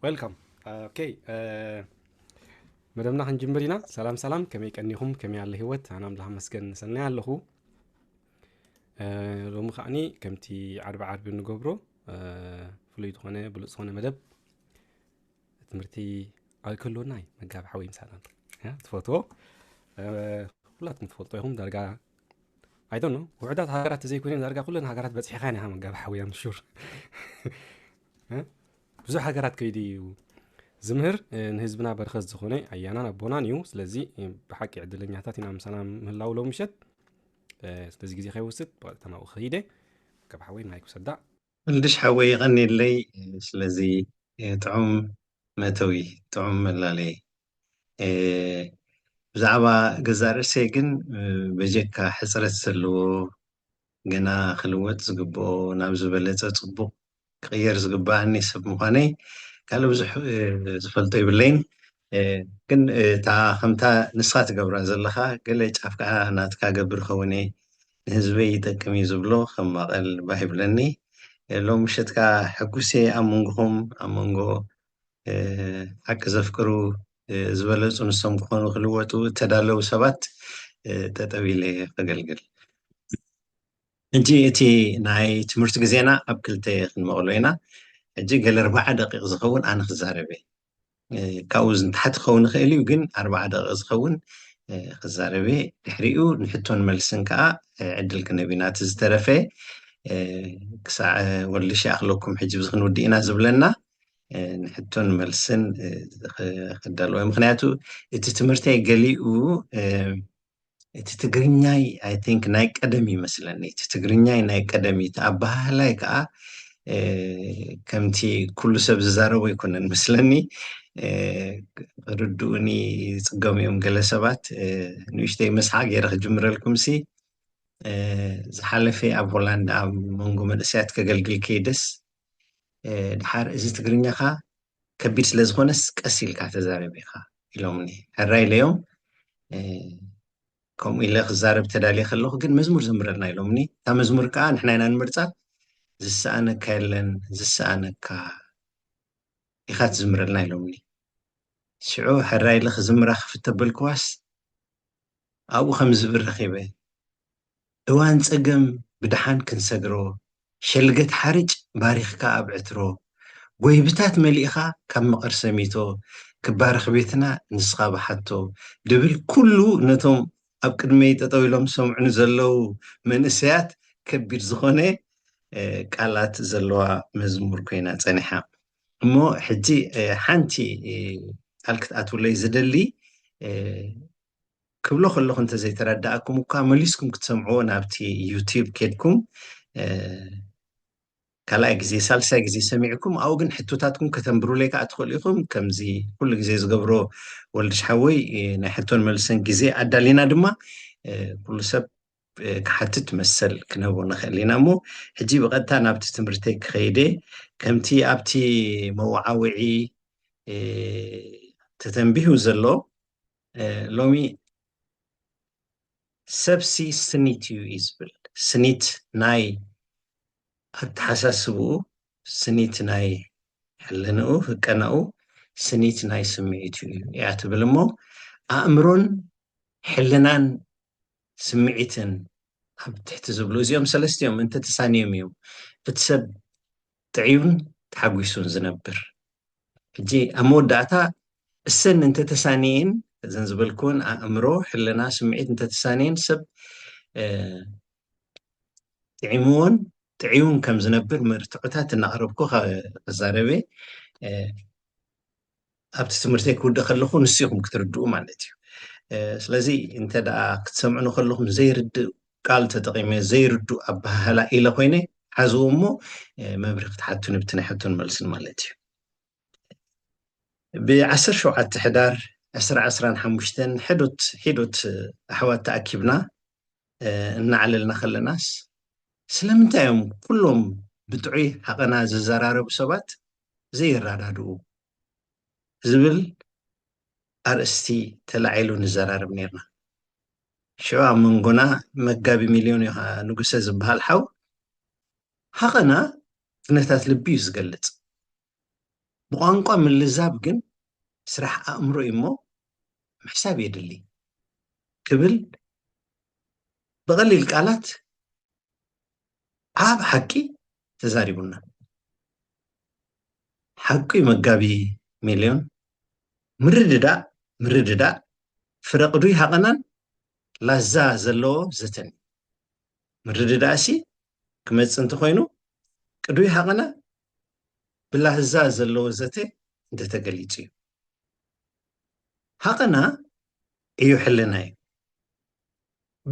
ዌልካም ኦኬ መደብና ክንጅምር ኢና ሰላም ሰላም ከመይ ቀኒኹም ከመይ ኣለ ሂወት ኣነ ኣምላኽ መስገን ሰናይ ኣለኹ እ፣ ሎሚ ከዓኒ ከምቲ ዓርቢ ዓርቢ ንገብሮ እ፣ ፍሉይ ዝኾነ ብሉፅ ዝኾነ መደብ ትምህርቲ ኣይከሎና እዩ መጋቢ ሓወይ ምሳና ኣሎ። ያ፣ ትፈትዎ እ፣ ኩላትኩም ትፈልጦ ኢኹም ዳርጋ ኣይዶኖ ውሕዳት ሃገራት ተዘይኮይነን ዳርጋ ኩለን ሃገራት በፂሕኻን ኢኻ መጋቢ ሓወይ ኣምሹር ብዙሕ ሃገራት ከይዲ እዩ ዝምህር ንህዝብና በረከት ዝኾነ ኣያናን ኣቦናን እዩ ስለዚ ብሓቂ ዕድለኛታት ኢና ምሳና ምህላው ሎ ምሸት ስለዚ ግዜ ከይወስድ ብቐጥታ ናብኡ ከይደ ካብ ሓወይ ማይ ክውሰዳ እንድሽ ሓወይ ይቐኒለይ ስለዚ ጥዑም መእተዊ ጥዑም መላለይ ብዛዕባ ገዛእ ርእሰይ ግን በጀካ ሕፅረት ዘለዎ ገና ክልወጥ ዝግብኦ ናብ ዝበለፀ ፅቡቕ ክቅየር ዝግበኣኒ ሰብ ምኳነይ ካልእ ብዙሕ ዝፈልጦ የብለይን ግን እታ ከምታ ንስካ ትገብራ ዘለካ ገለ ጫፍ ከኣ ናትካ ገብር እከውን እየ ንህዝበይ ይጠቅም እዩ ዝብሎ ከም ማቀል ባህ ይብለኒ ሎሚ ምሸት ከኣ ሕጉስ እየ ኣብ መንጎኩም ኣብ መንጎ ሓቂ ዘፍቅሩ ዝበለጹ ንሶም ክኮኑ ክልወጡ እተዳለው ሰባት ጠጠው ኢለ ከገልግል። ሕጂ እቲ ናይ ትምህርቲ ግዜና ኣብ ክልተ ክንመቕሎ ኢና። ሕጂ ገለ ኣርባዓ ደቂቕ ዝኸውን ኣነ ክዛረብ እየ። ካብኡ ንታሕቲ ክኸውን ይኽእል እዩ፣ ግን ኣርባዓ ደቂቕ ዝኸውን ክዛረብ እየ። ድሕሪኡ ንሕቶን መልስን ከኣ ዕድል ክንህብ ኢና። እቲ ዝተረፈ ክሳዕ ወልድሽ ይኣኽለኩም ሕጂ ብዚ ክንውድእ ኢና ዝብለና ንሕቶን መልስን ክዳለወ ምክንያቱ እቲ ትምህርተይ ገሊኡ እቲ ትግርኛይ ኣይ ቲንክ ናይ ቀደም እዩ መስለኒ እቲ ትግርኛይ ናይ ቀደም እዩ እቲ ኣበሃህላይ ከዓ እ፣ ከምቲ ኩሉ ሰብ ዝዛረቦ ኣይኮነን መስለኒ እ፣ ክርድኡኒ ይፅገሙ እዮም ገለ ሰባት እ፣ ንእሽተይ መስሓ ገይረ ክጅምረልኩም ሲ እ፣ ዝሓለፈ ኣብ ሆላንድ ኣብ መንጎ መንእሰያት ከገልግል ከይደስ እ፣ ድሓር እዚ ትግርኛኻ ከቢድ ስለ ዝኾነስ ቀስ ኢልካ ተዛረብ ኢኻ ኢሎምኒ ሕራይ ኢለዮም ከምኡ ኢለ ክዛረብ ተዳልየ ከለኹ ግን መዝሙር ዘምረልና ኢሎምኒ እታ መዝሙር ከዓ ንሕና ኢና ንምርፃ ዝሰኣነካ የለን ዝሰኣነካ ኢኻ ትዝምረልና ኢሎምኒ ሽዑ ሕራ ኢለ ክዝምራ ክፍተበልክዋስ ኣብኡ ከም ዝብር ረኪበ እዋን ጸገም ብደሓን ክንሰግሮ ሸልገት ሓርጭ ባሪኽካ ኣብ ዕትሮ ጎይብታት መሊእኻ ካብ መቐር ሰሚቶ ክባረኽ ቤትና ንስኻ ብሓቶ ድብል ኩሉ ነቶም ኣብ ቅድመይ ጠጠው ኢሎም ዝሰምዑኒ ዘለው መንእሰያት ከቢድ ዝኾነ ቃላት ዘለዋ መዝሙር ኮይና ጸኒሓ እሞ ሕጂ ሓንቲ ቃል ክትኣትውለይ ዝደሊ ክብሎ ከለኩ እንተ ዘይተረዳኣኩም እኳ መሊስኩም ክትሰምዕዎ ናብቲ ዩቲብ ኬድኩም ካልኣይ ግዜ ሳልሳይ ግዜ ሰሚዕኩም ኣብኡ ግን ሕቶታትኩም ከተንብሩለይ ከዓ ትኽእሉ ኢኹም ከምዚ ኩሉ ግዜ ዝገብሮ ወልድሽ ሓወይ ናይ ሕቶን መልሰን ግዜ ኣዳሊና ድማ ኩሉ ሰብ ክሓትት መሰል ክንህቦ ንኽእል ኢና እሞ ሕጂ ብቐጥታ ናብቲ ትምህርተይ ክኸይደ ከምቲ ኣብቲ መዋዓውዒ ተተንቢሁ ዘሎ ሎሚ ሰብሲ ስኒት እዩ እዩ ዝብል ስኒት ናይ ኣተሓሳስብኡ ስኒት ናይ ሕልንኡ ህቀናኡ ስኒት ናይ ስምዒት እዩ እያ ትብል እሞ ኣእምሮን ሕልናን ስምዒትን ኣብ ትሕቲ ዝብሉ እዚኦም ሰለስቲኦም እንተተሳኒዮም እዮም እቲ ሰብ ጥዕዩን ተሓጒሱን ዝነብር። ሕጂ ኣብ መወዳእታ እሰን እንተተሳንየን እዘን ዝበልክወን ኣእምሮ፣ ሕልና፣ ስምዒት እንተተሳንየን ሰብ ጥዒምዎን ጥዕዩን ከም ዝነብር መርትዖታት እናቕረብኩ ክዛረብ'የ። ኣብቲ ትምህርተይ ክውድእ ከለኹ ንሱ ኢኹም ክትርድኡ ማለት እዩ ስለዚ እንተ ደኣ ክትሰምዑ ንከለኹም ዘይርድእ ቃል ተጠቂመ ዘይርድእ ኣበሃህላ ኢለ ኮይነ ሓዝዎ እሞ መምሪ ክትሓቱን ብቲ ናይ ሕቶን መልስን ማለት እዩ ብዓሰር ሸውዓተ ሕዳር ዕስራ ዕስራን ሓሙሽተን ሕዶት ሒዶት ኣሕዋት ተኣኪብና እናዓለልና ከለናስ ስለምንታይ እዮም ኩሎም ብጥዑይ ሓቐና ዝዘራረቡ ሰባት ዘይረዳድኡ ዝብል ኣርእስቲ ተላዒሉ ንዘራረብ ኔርና። ሽዑ ኣብ መንጎና መጋቢ ሚልዮን ዮሃ ንጉሰ ዝበሃል ሓው ሃቐና ኩነታት ልቢ እዩ ዝገልጽ፣ ብቋንቋ ምልዛብ ግን ስራሕ ኣእምሮ እዩ እሞ ምሕሳብ የድሊ ክብል ብቐሊል ቃላት ዓብ ሓቂ ተዛሪቡና ሓቁ ዩ መጋቢ ሚልዮን ምርድዳእ ምርድዳእ ፍረ ቅዱይ ሃቐናን ላዛ ዘለዎ ዘተን ምርድዳእ ሲ ክመጽእ እንተኾይኑ ቅዱይ ሃቐና ብላህዛ ዘለዎ ዘተ እንተተገሊጹ እዩ ሃቐና እዩ ሕልና እዩ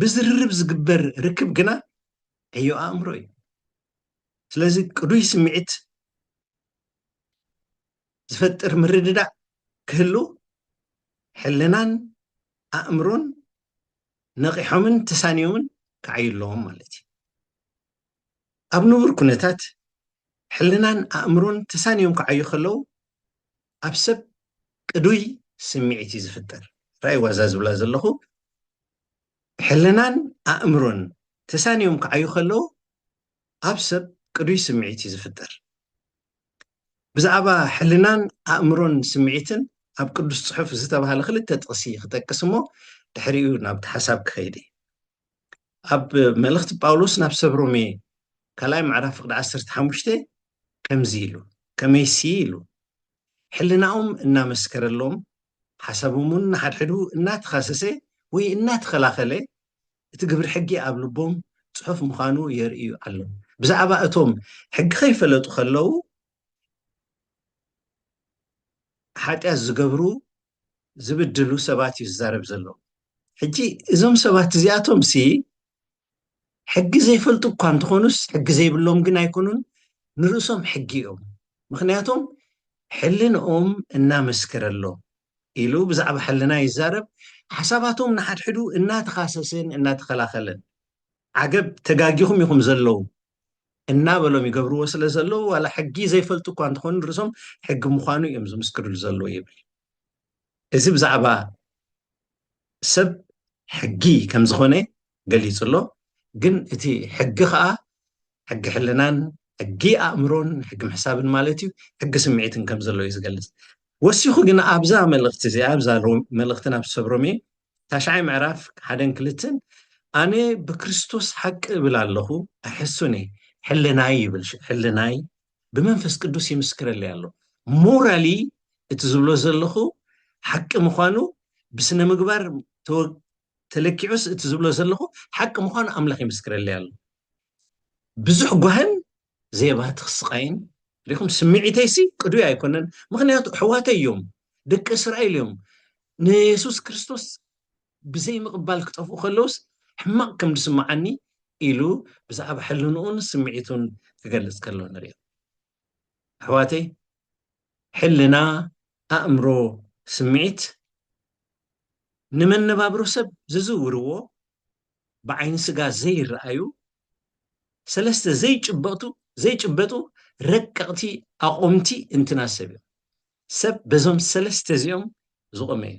ብዝርርብ ዝግበር ርክብ ግና ዕዮ ኣእምሮ እዩ ስለዚ ቅዱይ ስምዒት ዝፈጥር ምርድዳእ ክህሉ ሕልናን ኣእምሮን ነቂሖምን ተሳኒዮምን ክዓዩ ኣለዎም ማለት እዩ ኣብ ንቡር ኩነታት ሕልናን ኣእምሮን ተሳኒዮም ክዓዩ ከለዉ ኣብ ሰብ ቅዱይ ስምዒት እዩ ዝፍጠር ራይዋ እዛ ዝብላ ዘለኹ ሕልናን ኣእምሮን ተሳንዮም ክዓዩ ከለዉ ኣብ ሰብ ቅዱይ ስምዒት እዩ ዝፍጠር ብዛዕባ ሕልናን ኣእምሮን ስምዒትን ኣብ ቅዱስ ፅሑፍ ዝተባሃለ ክልተ ጥቕሲ ክጠቅስ እሞ ድሕሪኡ ናብቲ ሓሳብ ክኸይድ እዩ ኣብ መልእኽቲ ጳውሎስ ናብ ሰብ ሮሜ ካልኣይ ምዕራፍ ፍቅዲ ዓሰርተ ሓሙሽተ ከምዚ ኢሉ፣ ከመይሲ ኢሉ፣ ሕልናኦም እናመስከረሎም፣ ሓሳቦምውን ንሓድሕዱ እናተኻሰሰ ወይ እናተኸላኸለ፣ እቲ ግብሪ ሕጊ ኣብ ልቦም ጽሑፍ ምዃኑ የርእዩ ኣለው። ብዛዕባ እቶም ሕጊ ከይፈለጡ ከለው ሓጢኣት ዝገብሩ ዝብድሉ ሰባት እዩ ዝዛረብ ዘሎ። ሕጂ እዞም ሰባት እዚኣቶምሲ ሕጊ ዘይፈልጡ እኳ እንተኾኑስ ሕጊ ዘይብሎም ግን ኣይኮኑን፣ ንርእሶም ሕጊ እዮም፣ ምኽንያቶም ሕልንኦም እናመስከረሎም ኢሉ ብዛዕባ ሕልና ይዛረብ፣ ሓሳባቶም ንሓድሕዱ እናተኻሰሰን እናተኸላኸለን፣ ዓገብ ተጋጊኹም ኢኹም ዘለዉ እናበሎም ይገብርዎ ስለ ዘለዉ ዋላ ሕጊ ዘይፈልጡ እኳ እንተኾኑ ንርእሶም ሕጊ ምዃኑ እዮም ዝምስክርሉ ዘለዉ ይብል። እዚ ብዛዕባ ሰብ ሕጊ ከም ዝኾነ ገሊጹ ኣሎ። ግን እቲ ሕጊ ኸኣ ሕጊ ሕልናን ሕጊ ኣእምሮን ሕጊ ምሕሳብን ማለት እዩ ሕጊ ስምዒትን ከም ዘሎ እዩ ዝገልጽ። ወሲኹ ግን ኣብዛ መልእኽቲ እዚኣ ኣብዛ መልእኽቲ ናብ ሰብ ሮሜ ታሽዓይ ምዕራፍ ሓደን ክልተን ኣነ ብክርስቶስ ሓቂ እብል ኣለኹ ኣይሕሱን እየ ሕልናይ ይብል ሕልናይ ብመንፈስ ቅዱስ ይምስክረለይ ኣሎ ሞራሊ እቲ ዝብሎ ዘለኹ ሓቂ ምዃኑ ብስነ ምግባር ተለኪዑስ እቲ ዝብሎ ዘለኹ ሓቂ ምዃኑ ኣምላኽ ይምስክረለይ ኣሎ ብዙሕ ጓህን ዘየባህቲ ክስቃይን ሪኹም ስምዒተይሲ ቅዱይ ኣይኮነን ምክንያቱ ኣሕዋተይ እዮም ደቂ እስራኤል እዮም ንየሱስ ክርስቶስ ብዘይምቕባል ክጠፍኡ ከለዉስ ሕማቕ ከም ዝስምዓኒ ኢሉ ብዛዕባ ሕልንኡን ስምዒቱን ክገልጽ ከሎ ንርእዮ። ኣሕዋተይ ሕልና፣ ኣእምሮ፣ ስምዒት ንመነባብሮ ሰብ ዝዝውርዎ ብዓይኒ ስጋ ዘይረኣዩ ሰለስተ ዘይጭበጡ ዘይጭበጡ ረቀቕቲ ኣቑምቲ እንትና ሰብ እዮም። ሰብ በዞም ሰለስተ እዚኦም ዝቖመ እዩ፣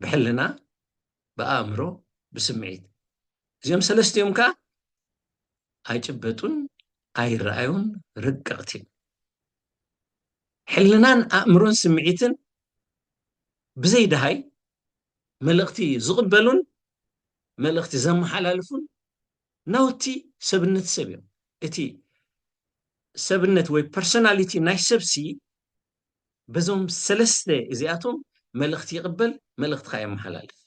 ብሕልና፣ ብኣእምሮ፣ ብስምዒት። እዚኦም ሰለስቲኦም ከኣ ኣይጭበጡን ኣይረኣዩን ረቀቕቲ እዮም። ሕልናን ኣእምሮን ስምዒትን ብዘይ ደሃይ መልእኽቲ ዝቕበሉን መልእኽቲ ዘመሓላልፉን ናውቲ ሰብነት ሰብ እዮም እቲ ሰብነት ወይ ፐርሶናሊቲ ናይ ሰብሲ በዞም ሰለስተ እዚኣቶም መልእኽቲ ይቕበል መልእኽትካ የመሓላልፍ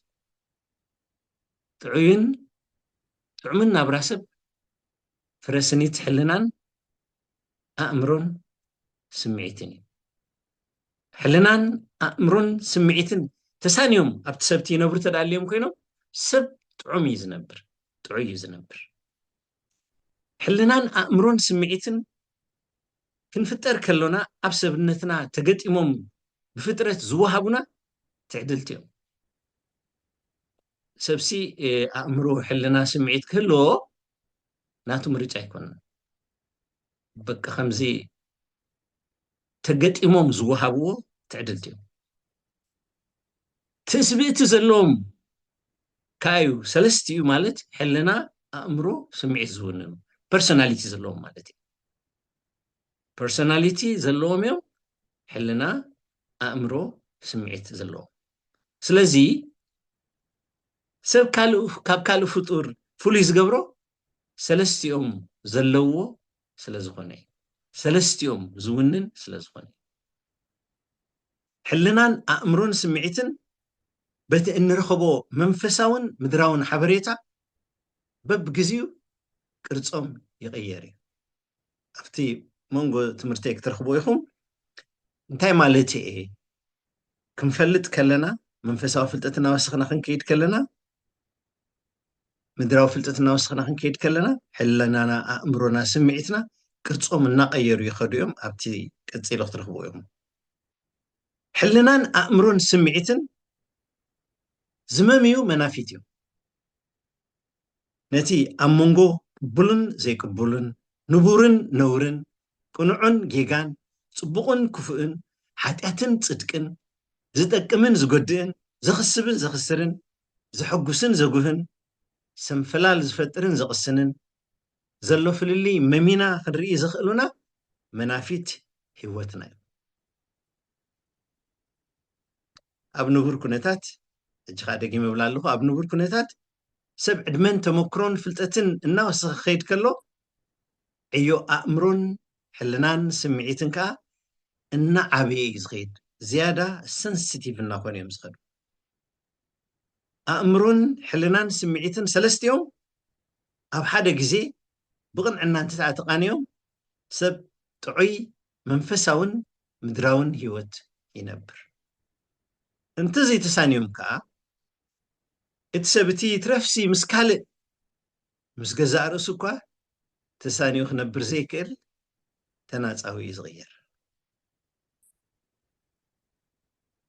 ጥዑይን ጥዑምን ናብራ ሰብ ፍረ ስኒት ሕልናን ኣእምሮን ስምዒትን እዩ ሕልናን ኣእምሮን ስምዒትን ተሳንዮም ኣብቲ ሰብቲ ይነብሩ ተዳልዮም ኮይኖም ሰብ ጥዑም እዩ ዝነብር ጥዑይ እዩ ዝነብር። ሕልናን ኣእምሮን ስምዒትን ክንፍጠር ከሎና ኣብ ሰብነትና ተገጢሞም ብፍጥረት ዝወሃቡና ትዕድልቲ እዮም። ሰብሲ ኣእምሮ፣ ሕልና፣ ስምዒት ክህልዎ ናቱ ምርጫ ኣይኮነን። በቂ ከምዚ ተገጢሞም ዝወሃብዎ ትዕድልቲ እዮም። ትስብእቲ ዘለዎም ከኣ እዩ ሰለስቲኡ ማለት ሕልና ኣእምሮ ስምዒት ዝውንኑ ፐርሶናሊቲ ዘለዎም ማለት እዩ ፐርሶናሊቲ ዘለዎም እዮም ሕልና ኣእምሮ ስምዒት ዘለዎም ስለዚ ሰብ ካብ ካልእ ፍጡር ፍሉይ ዝገብሮ ሰለስቲኦም ዘለዎ ስለ ዝኾነ እዩ ሰለስቲኦም ዝውንን ስለ ዝኾነ እዩ ሕልናን ኣእምሮን ስምዒትን በቲ እንረኽቦ መንፈሳውን ምድራውን ሓበሬታ በብግዚኡ ቅርጾም ይቕየር እዩ። ኣብቲ መንጎ ትምህርተይ ክትረኽቦ ኢኹም። እንታይ ማለት እየ? ክንፈልጥ ከለና መንፈሳዊ ፍልጠት እናወሰኽና ክንከይድ ከለና ምድራዊ ፍልጠት እናወሰኽና ክንከይድ ከለና ሕለናና ኣእምሮና ስምዒትና ቅርፆም እናቀየሩ ይኸዱ እዮም ኣብቲ ቀፂሎ ክትረኽቡ እዮም ሕልናን ኣእምሮን ስምዒትን ዝመምዩ መናፊት እዮም። ነቲ ኣብ መንጎ ቅቡልን ዘይቅቡልን፣ ንቡርን ነውርን፣ ቅኑዕን ጌጋን፣ ጽቡቕን ክፉእን፣ ሓጢኣትን ጽድቅን፣ ዝጠቅምን ዝጎድእን፣ ዘኽስብን ዘኽስርን፣ ዘሐጉስን ዘጉህን፣ ሰንፈላል ዝፈጥርን ዘቕስንን፣ ዘሎ ፍልልይ መሚና ክንርኢ ዘኽእሉና መናፊት ህይወትና እዩ። ኣብ ንቡር ኩነታት ሕጂ ከዓ ደጊመ እብላ ኣለኹ ኣብ ንቡር ኩነታት ሰብ ዕድመን ተመክሮን ፍልጠትን እናወሰኸ ክኸይድ ከሎ ዕዮ ኣእምሮን ሕልናን ስምዒትን ከዓ እናዓበየ እዩ ዝኸይድ ዝያዳ ሰንስቲቭ እናኾኑ እዮም ዝኸዱ ኣእምሮን ሕልናን ስምዒትን ሰለስቲኦም ኣብ ሓደ ግዜ ብቕንዕና እንተደኣ ተቓንዮም ሰብ ጥዑይ መንፈሳውን ምድራውን ህይወት ይነብር። እንተዘይተሳንዮም ከኣ እቲ ሰብ እቲ ይትረፍሲ ምስ ካልእ ምስ ገዛእ ርእሱ እኳ ተሳንዩ ክነብር ዘይክእል ተናጻዊ እዩ ዝቕየር።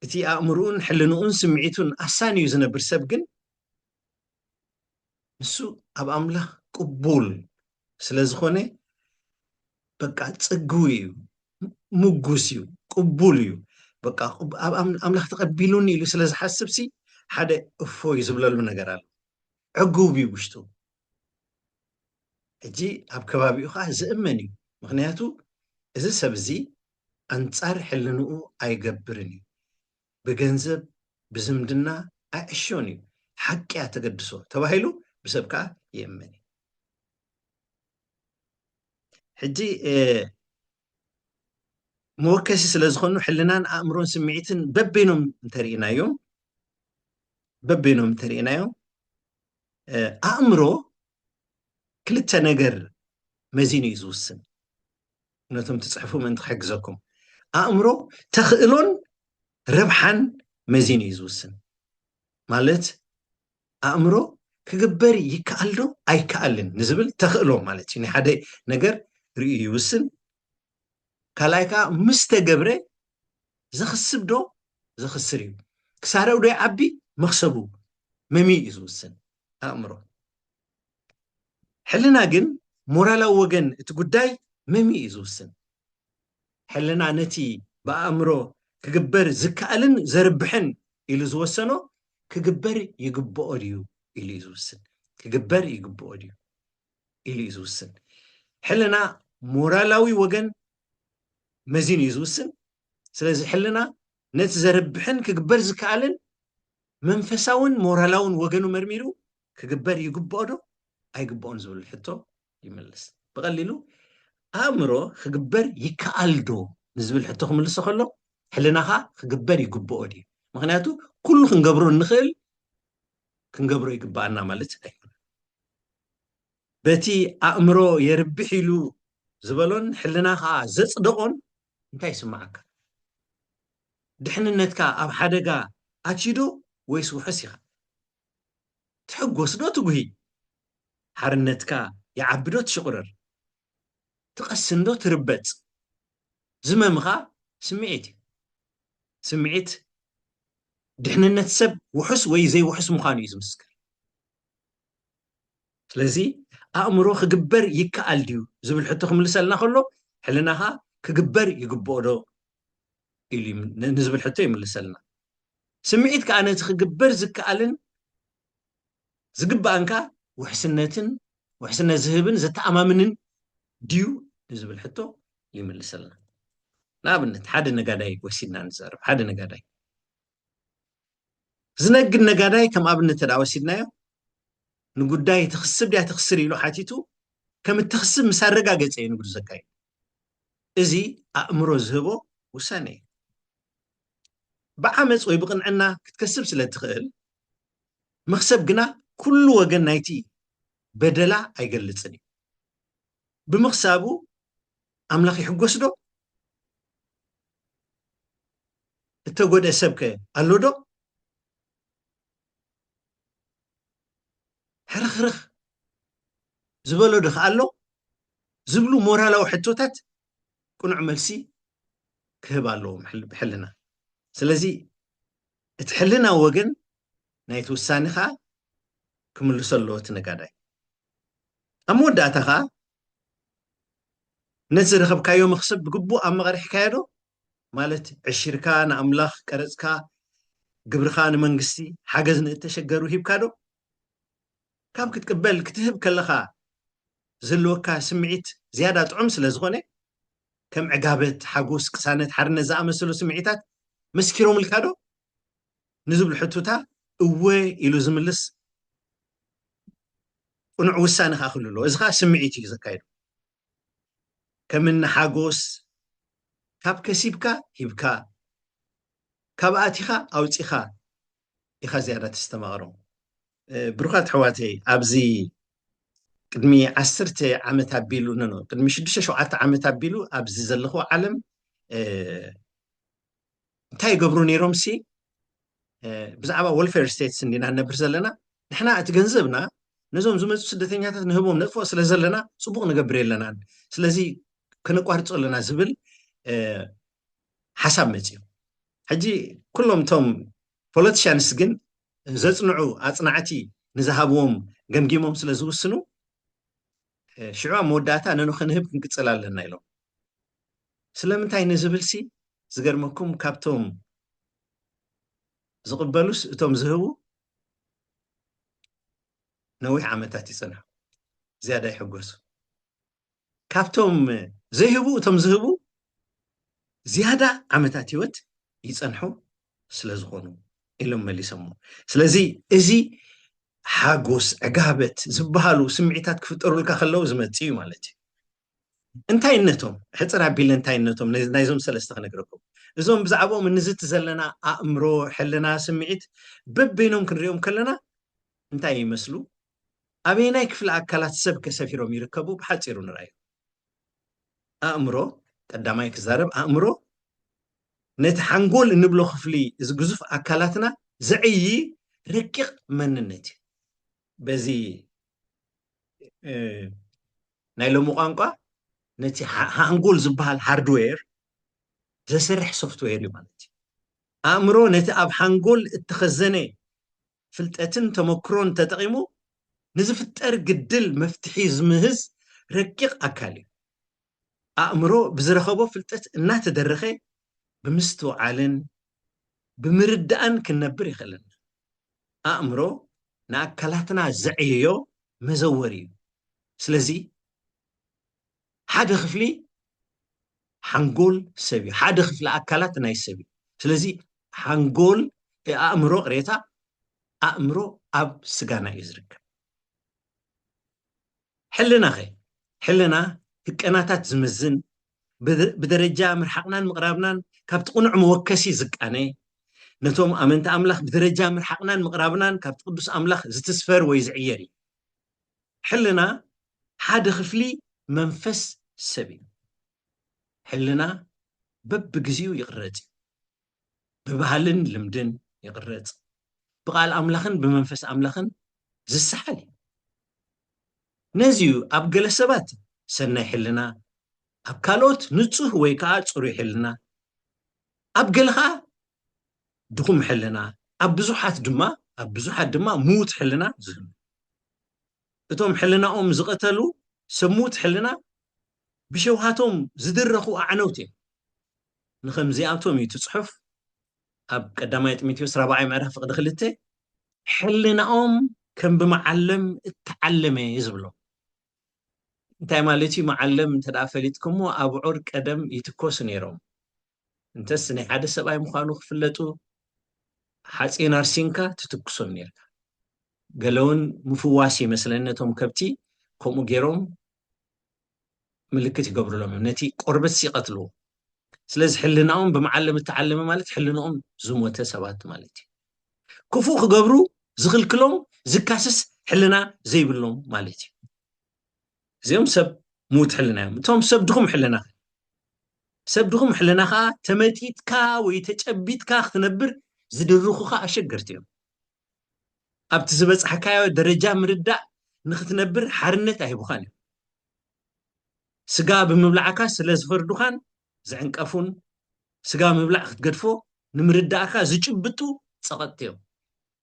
እቲ ኣእምርኡን ሕልንኡን ስምዒቱን ኣሳንዩ ዝነብር ሰብ ግን ንሱ ኣብ ኣምላኽ ቅቡል ስለ ዝኾነ በቃ ጽግዊ እዩ ምጉስ እዩ ቅቡል እዩ በቃ ኣብ ኣምላኽ ተቐቢሉኒ ኢሉ ስለ ዝሓስብ ሲ ሓደ እፎይ ዝብለሉ ነገር ኣሎ ዕጉብ እዩ ውሽጡ ሕጂ ኣብ ከባቢኡ ከኣ ዝእመን እዩ ምኽንያቱ እዚ ሰብ እዚ ኣንጻር ሕልንኡ ኣይገብርን እዩ ብገንዘብ ብዝምድና ኣይዕሾን እዩ ሓቂ እያ ተገድሶ ተባሂሉ ብሰብ ከኣ ይእመን እዩ ሕጂ መወከሲ ስለ ዝኾኑ ሕልናን ኣእምሮን ስምዒትን በበይኖም እንተርኢናዮም በበይኖም እንተርኢናዮም ኣእምሮ ክልተ ነገር መዚኑ እዩ ዝውስን ነቶም ትፅሕፉ ምእንቲ ክሕግዘኩም ኣእምሮ ተኽእሎን ረብሓን መዚኑ እዩ ዝውስን ማለት ኣእምሮ ክግበር ይከኣል ዶ ኣይከኣልን ንዝብል ተኽእሎ ማለት እዩ ናይ ሓደ ነገር ርእዩ ይውስን ካልኣይ ከዓ ምስ ተገብረ ዘኽስብ ዶ ዘኽስር እዩ ክሳረው ዶ ይዓቢ መኽሰቡ መምይ እዩ ዝውስን ኣእምሮ ሕልና ግን ሞራላዊ ወገን እቲ ጉዳይ መምይ እዩ ዝውስን ሕልና ነቲ ብኣእምሮ ክግበር ዝከኣልን ዘርብሕን ኢሉ ዝወሰኖ ክግበር ይግብኦ ድዩ ኢሉ እዩ ዝውስን ክግበር ይግብኦ ድዩ ኢሉ እዩ ዝውስን ሕልና ሞራላዊ ወገን መዚን እዩ ዝውስን ስለዚ ሕልና ነቲ ዘርብሕን ክግበር ዝከኣልን መንፈሳውን ሞራላውን ወገኑ መርሚሩ ክግበር ይግብኦ ዶ ኣይግብኦን ዝብል ሕቶ ይምልስ ብቐሊሉ ኣእምሮ ክግበር ይከኣል ዶ ንዝብል ሕቶ ክምልሶ ከሎ ሕልናኻ ክግበር ይግብኦ ድዩ ምክንያቱ ኩሉ ክንገብሮ እንኽእል ክንገብሮ ይግባኣና ማለት ኣይኮነ በቲ ኣእምሮ የርብሕ ኢሉ ዝበሎን ሕልና ከዓ ዘፅደቆን እንታይ ይስማዓካ ድሕንነትካ ኣብ ሓደጋ ኣትዩዶ ወይስ ውሑስ ኢኻ ትሕጎስ ዶ ትጉሂ? ሓርነትካ ይዓቢ ዶ ትሽቕርር? ትቐስን ዶ ትርበጽ? ዝመምኻ ስምዒት እዩ። ስምዒት ድሕንነት ሰብ ውሑስ ወይ ዘይውሑስ ምዃኑ እዩ ዝምስክር። ስለዚ ኣእምሮ ክግበር ይከኣል ድዩ ዝብል ሕቶ ክምልሰልና ከሎ ሕልናኻ ክግበር ይግብኦ ዶ ንዝብል ሕቶ ይምልሰልና ስምዒት ከዓ ነቲ ክግበር ዝከኣልን ዝግባእንካ ውሕስነትን ውሕስነት ዝህብን ዘተኣማምንን ድዩ ንዝብል ሕቶ ይምልሰልና ንኣብነት ሓደ ነጋዳይ ወሲድና ንዘርብ ሓደ ነጋዳይ ዝነግድ ነጋዳይ ከም ኣብነት ተዳ ወሲድናዮ ንጉዳይ ትኽስብ ድያ ትኽስር ኢሉ ሓቲቱ ከም እትኽስብ ምስ ኣረጋገፀ እዩ ንግዱ ዘካይድ እዚ ኣእምሮ ዝህቦ ውሳነ እዩ ብዓመፅ ወይ ብቕንዕና ክትከስብ ስለ እትኽእል መኽሰብ ግና ኩሉ ወገን ናይቲ በደላ ኣይገልፅን እዩ ብምኽሳቡ ኣምላኽ ይሕጎስ ዶ? እተጎድኤ ሰብ ከ ኣሎ ዶ? ሕርኽርኽ ዝበሎ ዶ ከ ኣሎ? ዝብሉ ሞራላዊ ሕቶታት ቅኑዕ መልሲ ክህብ ኣለዎ ሕልና። ስለዚ እቲ ሕልና ወገን ናይቲ ውሳኔ ከኣ ክምልሶ ኣለዎ እቲ ነጋዳይ። ኣብ መወዳእታ ከኣ ነቲ ዝረኸብካዮ መኽሰብ ብግቡእ ኣመቐሪሕካዮ ዶ? ማለት ዕሽርካ ንኣምላኽ፣ ቀረጽካ፣ ግብርኻ ንመንግስቲ፣ ሓገዝ ንእተሸገሩ ሂብካ ዶ? ካብ ክትቅበል ክትህብ ከለኻ ዘለወካ ስምዒት ዝያዳ ጥዑም ስለ ዝኾነ ከም ዕጋበት፣ ሓጎስ፣ ቅሳነት፣ ሓርነት ዝኣመሰሉ ስምዒታት መስኪሮምልካ ዶ? ንዝብሉ ሕቱታ እወ ኢሉ ዝምልስ ቅኑዕ ውሳነ ከኣ ክህሉ ኣለዎ። እዚ ከኣ ስምዒት እዩ ዘካይዶ። ከም እኒ ሓጎስ ካብ ከሲብካ ሂብካ ካብ ኣቲኻ ኣውጺኻ ኢኻ ዝያዳ ተስተማቕሮም። ብሩኻት ኣሕዋተይ ኣብዚ ቅድሚ ዓስርተ ዓመት ኣቢሉ ኖ ቅድሚ ሽዱሽተ ሸውዓተ ዓመት ኣቢሉ ኣብዚ ዘለኹ ዓለም እንታይ ይገብሩ ነይሮም ሲ ብዛዕባ ወልፌር ስቴትስ እንዲና ንነብር ዘለና ንሕና እቲ ገንዘብና ነዞም ዝመፁ ስደተኛታት ንህቦም ነጥፎ ስለ ዘለና ፅቡቅ ንገብር የለናን ስለዚ ከነቋርፆ ኣለና ዝብል ሓሳብ መፅኡ ሕጂ ኩሎም እቶም ፖለቲሽያንስ ግን ዘፅንዑ ኣፅናዕቲ ንዝሃብዎም ገምጊሞም ስለ ዝውስኑ ሽዑ ኣብ መወዳእታ ነንክንህብ ክንቅፅል ኣለና ኢሎም ስለምንታይ ንዝብልሲ ዝገርመኩም ካብቶም ዝቕበሉስ እቶም ዝህቡ ነዊሕ ዓመታት ይጸንሑ ዝያዳ ይሕጎሱ ካብቶም ዘይህቡ እቶም ዝህቡ ዝያዳ ዓመታት ህይወት ይጸንሑ ስለ ዝኾኑ ኢሎም መሊሶሞ ስለዚ እዚ ሓጎስ ዕጋበት ዝበሃሉ ስምዒታት ክፍጠሩልካ ከለዉ ዝመፅ እዩ ማለት እዩ እንታይነቶም ሕጽር ኣቢለ እንታይነቶም ናይዞም ሰለስተ ክነግረኩም እዞም ብዛዕባኦም እንዝቲ ዘለና ኣእምሮ ሕልና ስምዒት በበይኖም ክንሪኦም ከለና እንታይ ይመስሉ ኣበየናይ ክፍሊ ኣካላት ሰብ ከሰፊሮም ይርከቡ ብሓፂሩ ንርኣዩ ኣእምሮ ቀዳማይ ክዛረብ ኣእምሮ ነቲ ሓንጎል እንብሎ ክፍሊ እዚ ግዙፍ ኣካላትና ዘዕይ ረቂቕ መንነት እዩ በዚ ናይ ሎሚ ቋንቋ ነቲ ሓንጎል ዝበሃል ሃርድዌር ዘስርሕ ሶፍትዌር እዩ ማለት እዩ። ኣእምሮ ነቲ ኣብ ሓንጎል እተኸዘነ ፍልጠትን ተመክሮን ተጠቒሙ ንዝፍጠር ግድል መፍትሒ ዝምህዝ ረቂቕ ኣካል እዩ። ኣእምሮ ብዝረኸቦ ፍልጠት እናተደረኸ ብምስትውዓልን ብምርዳእን ክንነብር የኽእለና። ኣእምሮ ንኣካላትና ዘዕይዮ መዘወሪ እዩ። ስለዚ ሓደ ክፍሊ ሓንጎል ሰብ እዩ፣ ሓደ ክፍሊ ኣካላት ናይ ሰብ እዩ። ስለዚ ሓንጎል ኣእምሮ ቅሬታ ኣእምሮ ኣብ ስጋና እዩ ዝርከብ። ሕልና ኸ ሕልና ህቀናታት ዝምዝን ብደረጃ ምርሓቕናን ምቕራብናን ካብቲ ቅኑዕ መወከሲ ዝቃነ፣ ነቶም ኣመንቲ ኣምላኽ ብደረጃ ምርሓቕናን ምቕራብናን ካብቲ ቅዱስ ኣምላኽ ዝትስፈር ወይ ዝዕየር እዩ። ሕልና ሓደ ክፍሊ መንፈስ ሰብ እዩ። ሕልና በብግዜኡ ይቕረጽ እዩ። ብባህልን ልምድን ይቕረጽ፣ ብቓል ኣምላኽን ብመንፈስ ኣምላኽን ዝሰሓል እዩ። ነዚ እዩ ኣብ ገለ ሰባት ሰናይ ሕልና፣ ኣብ ካልኦት ንጹህ ወይ ከኣ ጽሩይ ሕልና፣ ኣብ ገለ ከኣ ድኹም ሕልና፣ ኣብ ብዙሓት ድማ ኣብ ብዙሓት ድማ ምዉት ሕልና ዝህሉ። እቶም ሕልናኦም ዝቐተሉ ሰብ ምዉት ሕልና ብሸውሃቶም ዝድረኹ ኣዕነውቲ እዮም። ንኸምዚኣቶም እዩ እቲ ጽሑፍ ኣብ ቀዳማይ ጢሞቴዎስ ራብዓይ ምዕራፍ ፍቕዲ ክልተ ሕልናኦም ከም ብመዓለም እተዓለመ እዩ ዝብሎ። እንታይ ማለት እዩ መዓለም እንተ ፈሊጥኩሞ ኣብዑር ቀደም ይትኮሱ ነይሮም እንተስ ናይ ሓደ ሰብኣይ ምዃኑ ክፍለጡ ሓፂን ኣርሲንካ ትትኩሶም ነርካ ገለውን ምፍዋስ ይመስለኒ ነቶም ከብቲ ከምኡ ገይሮም ምልክት ይገብርሎም እዮም ነቲ ቆርበት ይቀትልዎ ስለዚ ሕልናኦም ብመዓለም እተዓለመ ማለት ሕልንኦም ዝሞተ ሰባት ማለት እዩ ክፉእ ክገብሩ ዝኽልክሎም ዝካስስ ሕልና ዘይብሎም ማለት እዩ እዚኦም ሰብ ምዉት ሕልና እዮም እቶም ሰብ ድኹም ሕልና ሰብ ድኹም ሕልና ከዓ ተመጢጥካ ወይ ተጨቢጥካ ክትነብር ዝድርኹኻ ኣሸገርቲ እዮም ኣብቲ ዝበፅሕካዮ ደረጃ ምርዳእ ንክትነብር ሓርነት ኣይህቡኻን እዮም ስጋ ብምብላዕካ ስለ ዝፈርዱኻን ዝዕንቀፉን ስጋ ምብላዕ ክትገድፎ ንምርዳእካ ዝጭብጡ ፀቐጥቲ እዮም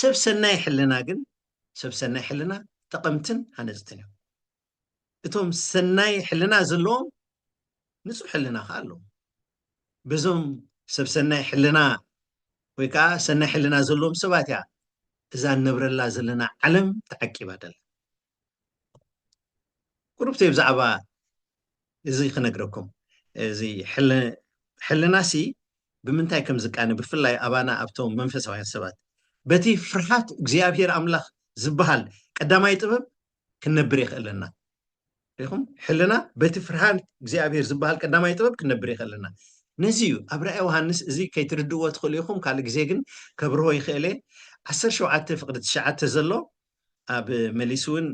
ሰብ ሰናይ ሕልና ግን ሰብ ሰናይ ሕልና ጠቐምትን ሃነፅትን እዮም። እቶም ሰናይ ሕልና ዘለዎም ንፁህ ሕልና ከዓ ኣለዎም። በዞም ሰብ ሰናይ ሕልና ወይ ከዓ ሰናይ ሕልና ዘለዎም ሰባት እያ እዛ ንነብረላ ዘለና ዓለም ተዓቂባ ደላ። ቁሩብተይ ብዛዕባ እዚ ክነግረኩም እዚ ሕልናሲ ብምንታይ ከም ዝቃነ ብፍላይ ኣባና ኣብቶም መንፈሳውያን ሰባት በቲ ፍርሃት እግዚኣብሔር ኣምላኽ ዝበሃል ቀዳማይ ጥበብ ክንነብር የኽእለና ሪኹም ሕልና በቲ ፍርሃት እግዚኣብሔር ዝበሃል ቀዳማይ ጥበብ ክንነብር የኽእለና ነዚ እዩ ኣብ ራእይ ዮሃንስ እዚ ከይትርድእዎ ትኽእሉ ኢኹም ካልእ ግዜ ግን ከብርሆ ይኽእለ ዓሰርተ ሸውዓተ ፍቅዲ ትሽዓተ ዘሎ ኣብ መሊሱ እውን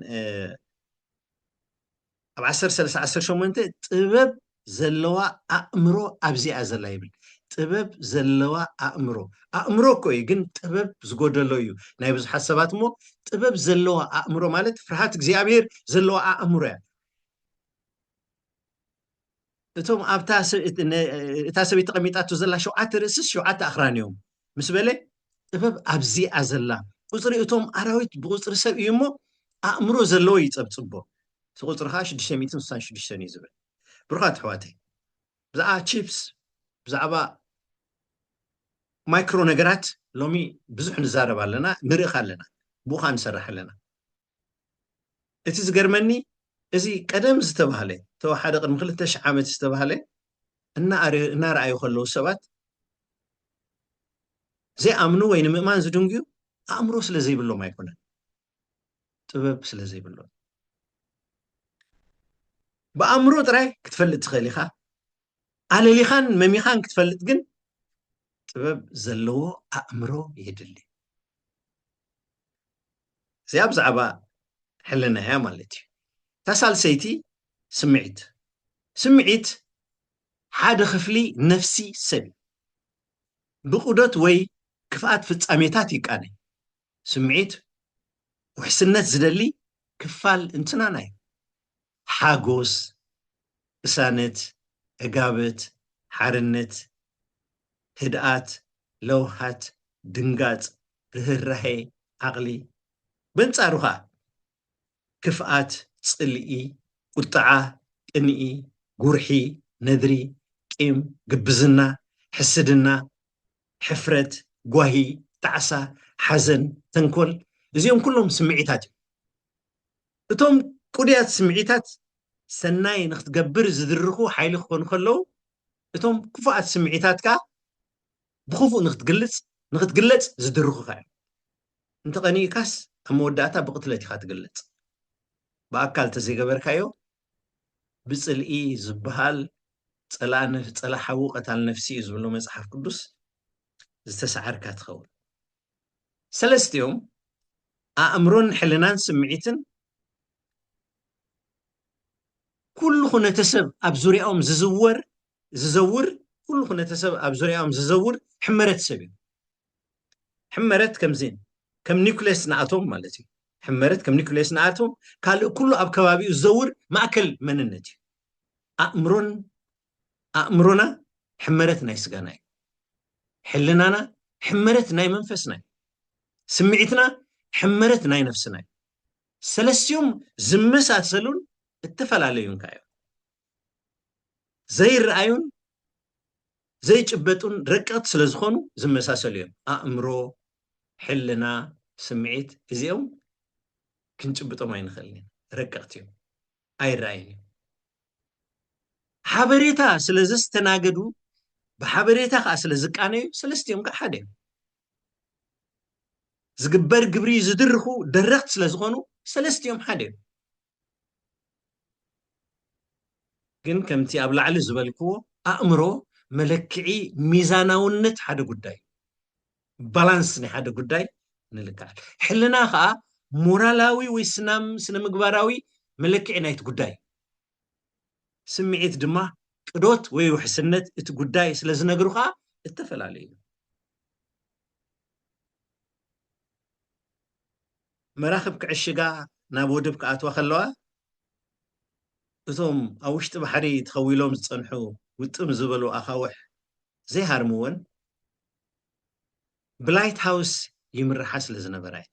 ኣብ ዓሰርተ ሰለስተ ዓሰርተ ሸሞንተ ጥበብ ዘለዋ ኣእምሮ ኣብዚኣ ዘላ ይብል ጥበብ ዘለዋ ኣእምሮ ኣእምሮ እኮ እዩ ግን ጥበብ ዝጎደሎ እዩ ናይ ብዙሓት ሰባት እሞ ጥበብ ዘለዋ ኣእምሮ ማለት ፍርሃት እግዚኣብሄር ዘለዋ ኣእምሮ እያ እቶም ኣብታ እታ ሰበይቲ ተቐሚጣቶ ዘላ ሸውዓተ ርእስስ ሸውዓተ ኣኽራን እዮም ምስ በለ ጥበብ ኣብዚኣ ዘላ ቁፅሪ እቶም ኣራዊት ብቁፅሪ ሰብ እዩ እሞ ኣእምሮ ዘለዎ ይፀብፅቦ እቲ ቁፅሪ ከዓ ሽዱሽተ ሚእትን ስሳን ሽዱሽተን እዩ ዝብል ብሩኻት ኣሕዋተይ ብዛዕባ ቺፕስ ብዛዕባ ማይክሮ ነገራት ሎሚ ብዙሕ ንዛረብ ኣለና ንርእኽ ኣለና ብኡኻ ንሰርሕ ኣለና እቲ ዝገርመኒ እዚ ቀደም ዝተባህለ ተወሓደ ቅድሚ ክልተ ሽሕ ዓመት ዝተባህለ እናረኣዩ ከለዉ ሰባት ዘይኣምኑ ወይ ንምእማን ዝድንግዩ ኣእምሮ ስለ ዘይብሎም ኣይኮነን ጥበብ ስለ ዘይብሎም ብኣእምሮ ጥራይ ክትፈልጥ ትኽእል ኢኻ ኣለሊኻን መሚኻን ክትፈልጥ ግን ጥበብ ዘለዎ ኣእምሮ የድሊ እዚኣ ብዛዕባ ሕልና እያ ማለት እዩ እታ ሳልሰይቲ ስምዒት ስምዒት ሓደ ክፍሊ ነፍሲ ሰብ እዩ ብቑደት ወይ ክፍኣት ፍጻሜታት ይቃነ ስምዒት ውሕስነት ዝደሊ ክፋል እንትናና እዩ ሓጎስ፣ ቅሳነት፣ ዕጋበት፣ ሓርነት፣ ህድኣት፣ ለውሃት፣ ድንጋጽ፣ ርህራሄ፣ ዓቕሊ። በንጻሩ ከኣ ክፍኣት፣ ጽልኢ፣ ቁጥዓ፣ ቅንኢ፣ ጉርሒ፣ ነድሪ፣ ቂም፣ ግብዝና፣ ሕስድና፣ ሕፍረት፣ ጓሂ፣ ጣዕሳ፣ ሓዘን፣ ተንኮል፣ እዚኦም ኩሎም ስምዒታት እዮም። እቶም ቅዱያት ስምዒታት ሰናይ ንኽትገብር ዝድርኹ ሓይሊ ክኾኑ ከለዉ፣ እቶም ክፉኣት ስምዒታት ከኣ ብኽፉእ ንኽትግልጽ ንኽትግለጽ ዝድርኹኻ እዮም። እንተ ቐኒእካስ ኣብ መወዳእታ ብቕትለት ኢኻ ትግለጽ። ብኣካል እንተ ዘይገበርካዮ ብጽልኢ ዝበሃል ጸላኢ ነፍ ጸላኢ ሓዉ ቀታል ነፍሲ እዩ ዝብሎ መጽሓፍ ቅዱስ ዝተሳዓርካ ትኸውን። ሰለስቲኦም ኣእምሮን ሕልናን ስምዒትን ኩሉ ኩነተሰብ ኣብ ዙርያኦም ዝዝወር ዝዘውር ኩሉ ኩነተሰብ ኣብ ዙርያኦም ዝዘውር ሕመረት ሰብ እዩ ሕመረት ከምዚ ከም ኒውክሌስ ንኣቶም ማለት እዩ ሕመረት ከም ኒኩሌስ ንኣቶም ካልእ ኩሉ ኣብ ከባቢኡ ዝዘውር ማእከል መንነት እዩ ኣእምሮን ኣእምሮና ሕመረት ናይ ስጋና እዩ። ሕልናና ሕመረት ናይ መንፈስና እዩ። ስምዒትና ሕመረት ናይ ነፍስና እዩ። ሰለስቲኦም ዝመሳሰሉን እተፈላለዩን ከ እዮም። ዘይረኣዩን ዘይጭበጡን ረቀቕቲ ስለ ዝኾኑ ዝመሳሰሉ እዮም። ኣእምሮ፣ ሕልና፣ ስምዒት እዚኦም ክንጭብጦም ኣይንኽእልን ኢና፣ ረቀቕቲ እዮም። ኣይረኣይን እዩ። ሓበሬታ ስለ ዘስተናገዱ ብሓበሬታ ከዓ ስለ ዝቃነዩ ሰለስቲኦም ከዓ ሓደ እዮም። ዝግበር ግብሪ ዝድርኹ ደረኽት ስለ ዝኾኑ ሰለስቲኦም ሓደ እዮም። ግን ከምቲ ኣብ ላዕሊ ዝበልክዎ ኣእምሮ መለክዒ ሚዛናውነት ሓደ ጉዳይ ባላንስ ናይ ሓደ ጉዳይ ንልክዓል ሕልና ከዓ ሞራላዊ ወይ ስናም ስነ ምግባራዊ መለክዒ ናይቲ ጉዳይ ስምዒት ድማ ቅዶት ወይ ውሕስነት እቲ ጉዳይ ስለ ዝነግሩ ከዓ እተፈላለዩ እዩ መራኽብ ክዕሽጋ ናብ ወድብ ክኣትዋ ከለዋ እቶም ኣብ ውሽጢ ባሕሪ ተኸዊሎም ዝፀንሑ ውጥም ዝበሉ ኣኻውሕ ዘይሃርምወን ብላይት ሃውስ ይምርሓ ስለ ዝነበራ እየን።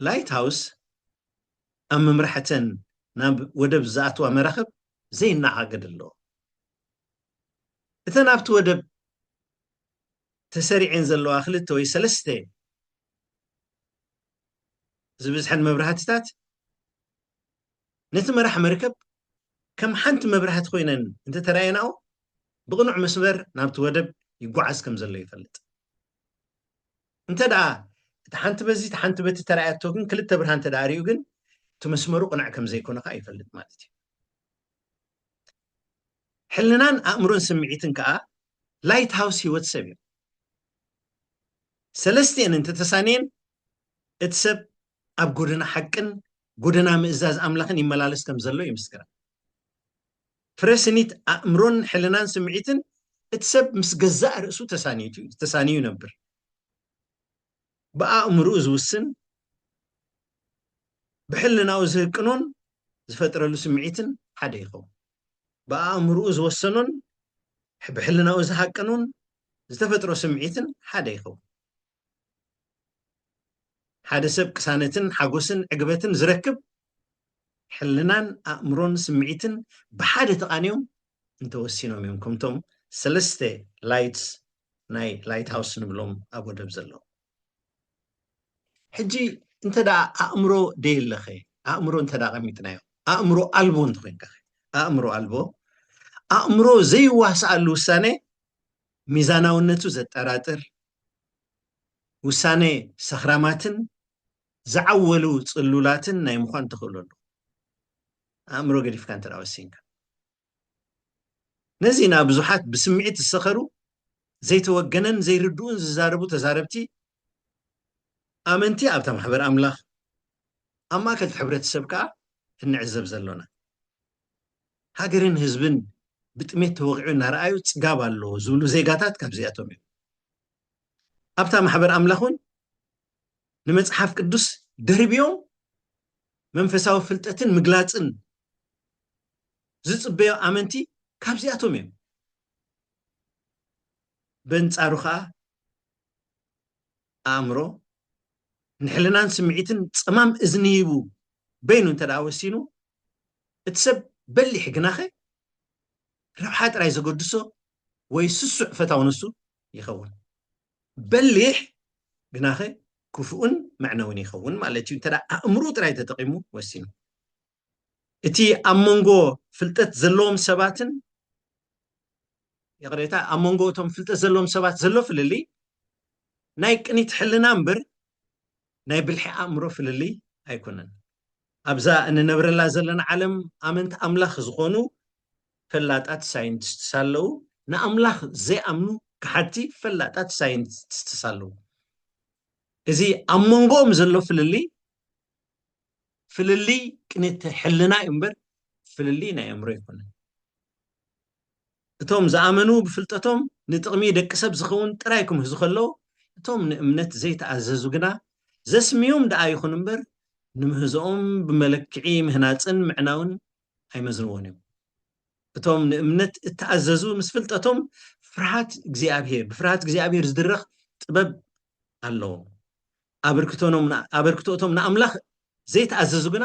ላይት ሃውስ ኣብ ምምራሕ እተን ናብ ወደብ ዝኣትዋ መራኽብ ዘይነኣኣገድ ኣለዎ። እተን ኣብቲ ወደብ ተሰሪዐን ዘለዋ ክልተ ወይ ሰለስተ ዝብዝሐን መብራህትታት ነቲ መራሕ መርከብ ከም ሓንቲ መብራህቲ ኮይነን እንተ ተራእየናኦ፣ ብቕኑዕ መስመር ናብቲ ወደብ ይጓዓዝ ከም ዘሎ ይፈልጥ። እንተ ደኣ እታ ሓንቲ በዚ እታ ሓንቲ በቲ ተራእያቶ ግን፣ ክልተ ብርሃን እንተ ደኣ ርእዩ ግን፣ እቲ መስመሩ ቅነዕ ከም ዘይኮነ ከኣ ይፈልጥ ማለት እዩ። ሕልናን ኣእምሮን ስምዒትን ከኣ ላይት ሃውስ ህይወት ሰብ እዮም። ሰለስቲኤን እንተ ተሳንየን እቲ ሰብ ኣብ ጎደና ሓቅን ጎደና ምእዛዝ ኣምላኽን ይመላለስ ከም ዘሎ ይምስክራ። ፍረ ስኒት ኣእምሮን ሕልናን ስምዒትን እቲ ሰብ ምስ ገዛእ ርእሱ ተሳንዩ ይነብር። ብኣእምርኡ ዝውስን ብሕልናኡ ዝህቅኖን ዝፈጥረሉ ስምዒትን ሓደ ይኸውን። ብኣእምርኡ ዝወሰኖን ብሕልናኡ ዝሃቅኖን ዝተፈጥሮ ስምዒትን ሓደ ይኸውን። ሓደ ሰብ ቅሳነትን ሓጎስን ዕግበትን ዝረክብ ሕልናን ኣእምሮን ስምዒትን ብሓደ ተቓኒዮም እንተወሲኖም እዮም ከምቶም ሰለስተ ላይትስ ናይ ላይት ሃውስ ንብሎም ኣብ ወደብ ዘለዉ ሕጂ እንተ ደኣ ኣእምሮ ደየለኸ ኣእምሮ እንተ ደኣ ቀሚጥናዮ ኣእምሮ ኣልቦ እንተኮይንካ ኣእምሮ ኣልቦ ኣእምሮ ዘይዋስኣሉ ውሳነ ሚዛናውነቱ ዘጠራጥር ውሳነ ሰኽራማትን ዝዓወሉ ጽሉላትን ናይ ምዃን ተኽእሎ ኣለዎ፣ ኣእምሮ ገዲፍካ እንተ ወሲንካ። ነዚ ንኣ ብዙሓት ብስምዒት ዝሰኸሩ ዘይተወገነን ዘይርድኡን ዝዛረቡ ተዛረብቲ ኣመንቲ ኣብታ ማሕበር ኣምላኽ ኣብ ማእከል እቲ ሕብረተሰብ ከኣ እንዕዘብ ዘሎና። ሃገርን ህዝብን ብጥሜት ተወቒዑ እናረኣዩ ፅጋብ ኣሎ ዝብሉ ዜጋታት ካብዚኣቶም እዮም። ኣብታ ማሕበር ኣምላኽ እውን ንመጽሓፍ ቅዱስ ደርብዮም መንፈሳዊ ፍልጠትን ምግላፅን ዝፅበዮ ኣመንቲ ካብዚኣቶም እዮም። በንጻሩ ከዓ ኣእምሮ ንሕልናን ስምዒትን ጸማም እዝኒ ሂቡ በይኑ እንተ ደኣ ወሲኑ፣ እቲ ሰብ በሊሕ ግናኸ ረብሓ ጥራይ ዘገድሶ ወይ ስሱዕ ፈታው ንሱ ይኸውን። በሊሕ ግናኸ ክፉእን መዕነዊን ይኸውን ማለት እዩ፣ እንተ ደኣ ኣእምርኡ ጥራይ ተጠቒሙ ወሲኑ። እቲ ኣብ መንጎ ፍልጠት ዘለዎም ሰባትን ይቕሬታ ኣብ መንጎ እቶም ፍልጠት ዘለዎም ሰባት ዘሎ ፍልልይ ናይ ቅኒት ሕልና እምበር ናይ ብልሒ ኣእምሮ ፍልልይ ኣይኮነን። ኣብዛ እንነብረላ ዘለና ዓለም ኣመንቲ ኣምላኽ ዝኾኑ ፈላጣት ሳይንቲስትስ ኣለዉ፣ ንኣምላኽ ዘይኣምኑ ከሓድቲ ፈላጣት ሳይንቲስትስ ኣለዉ። እዚ ኣብ መንጎኦም ዘሎ ፍልልይ ፍልልይ ቅኒት ሕልና እዩ እምበር ፍልልይ ናይ ኣእምሮ ኣይኮነን። እቶም ዝኣመኑ ብፍልጠቶም ንጥቕሚ ደቂ ሰብ ዝኸውን ጥራይ ክምህዙ ከለዉ፣ እቶም ንእምነት ዘይተኣዘዙ ግና ዘስምዩም ደኣ ይኹን እምበር ንምህዞኦም ብመለክዒ ምህናጽን ምዕናውን ኣይመዝንዎን እዮም። እቶም ንእምነት እተኣዘዙ ምስ ፍልጠቶም ፍርሃት እግዚኣብሄር ብፍርሃት እግዚኣብሄር ዝድረኽ ጥበብ ኣለዎም። ኣበርክቶ እቶም ንኣምላኽ ዘይተኣዘዙ ግና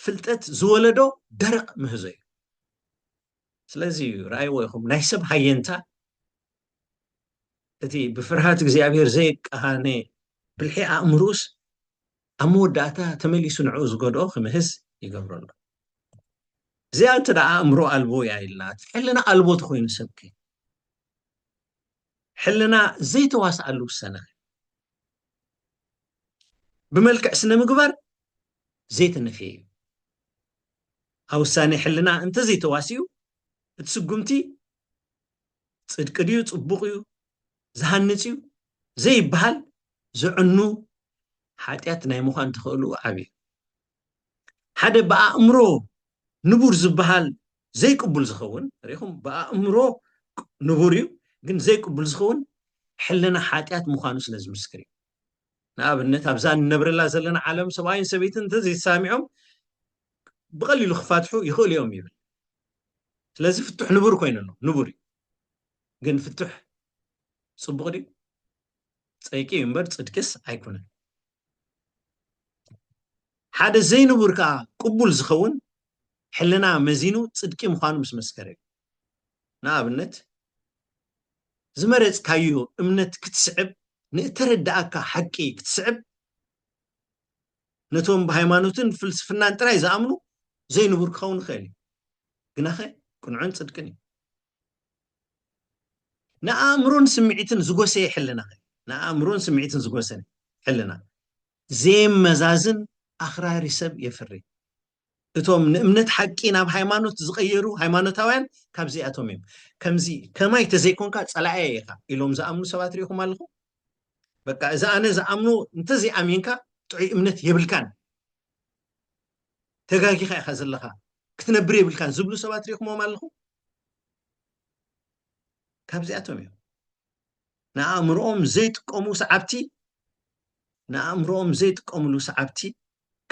ፍልጠት ዝወለዶ ደረቕ ምህዞ እዩ። ስለዚ እዩ ረኣይዎ ይኹም ናይ ሰብ ሃየንታ እቲ ብፍርሃት እግዚኣብሔር ዘይቃሃነ ብልሒ ኣእምሩስ ኣብ መወዳእታ ተመሊሱ ንዕኡ ዝገድኦ ክምህዝ ይገብሮ ኣሎ እዚኣ እንተ ደኣ ኣእምሮ ኣልቦ እያ ኢልና ሕልና ኣልቦ ተኮይኑ ሰብከ ሕልና ዘይተዋስኣሉ ውሰና ብመልክዕ ስነ ምግባር ዘይተነፍየ እዩ ኣብ ውሳኔ ሕልና እንተዘይተዋሲኡ እቲ ስጉምቲ ፅድቂ ድዩ ፅቡቕ እዩ ዝሃንፅ እዩ ዘይበሃል ዝዕኑ ሓጢኣት ናይ ምዃን ተኽእሉ ዓብዩ ሓደ ብኣእምሮ ንቡር ዝበሃል ዘይቅቡል ዝኸውን ርኢኹም ብኣእምሮ ንቡር እዩ ግን ዘይቅቡል ዝኸውን ሕልና ሓጢኣት ምዃኑ ስለ ዝምስክር እዩ ንኣብነት ኣብዛ ንነብረላ ዘለና ዓለም ሰብኣይን ሰበይትን እንተዘይተሳሚዖም ብቐሊሉ ክፋትሑ ይኽእሉ እዮም ይብል ስለዚ ፍቱሕ ንቡር ኮይኑ ኣሎ ንቡር እዩ ግን ፍቱሕ ፅቡቕ ድዩ ፀይቂ እዩ እምበር ፅድቅስ ኣይኮነን ሓደ ዘይንቡር ከኣ ቅቡል ዝኸውን ሕልና መዚኑ ጽድቂ ምዃኑ ምስ መስከረ እዩ። ንኣብነት፣ ዝመረጽካዮ እምነት ክትስዕብ፣ ንእተረድኣካ ሓቂ ክትስዕብ፣ ነቶም ብሃይማኖትን ፍልስፍናን ጥራይ ዝኣምኑ ዘይንቡር ክኸውን ይኽእል እዩ። ግናኸ ቅኑዕን ጽድቅን እዩ። ንኣእምሮን ስምዒትን ዝጎሰየ ሕልና ንኣእምሮን ስምዒትን ዝጎሰነ ሕልና ዘየመዛዝን ኣኽራሪ ሰብ የፍሪ። እቶም ንእምነት ሓቂ ናብ ሃይማኖት ዝቐየሩ ሃይማኖታውያን ካብዚኣቶም እዮም። ከምዚ ከማይ ተዘይኮንካ ጸላእየ ኢኻ ኢሎም ዝኣምኑ ሰባት ርኢኹም ኣለኹም? በቃ እዚ ኣነ ዝኣምኖ እንተዘይኣሚንካ ጥዑይ እምነት የብልካን ተጋጊኻ ኢኻ ዘለኻ ክትነብር የብልካን ዝብሉ ሰባት ርኢኹሞም ኣለኹም? ካብዚኣቶም እዮም ንኣእምሮኦም ዘይጥቀሙ ሰዓብቲ ንኣእምሮኦም ዘይጥቀምሉ ሰዓብቲ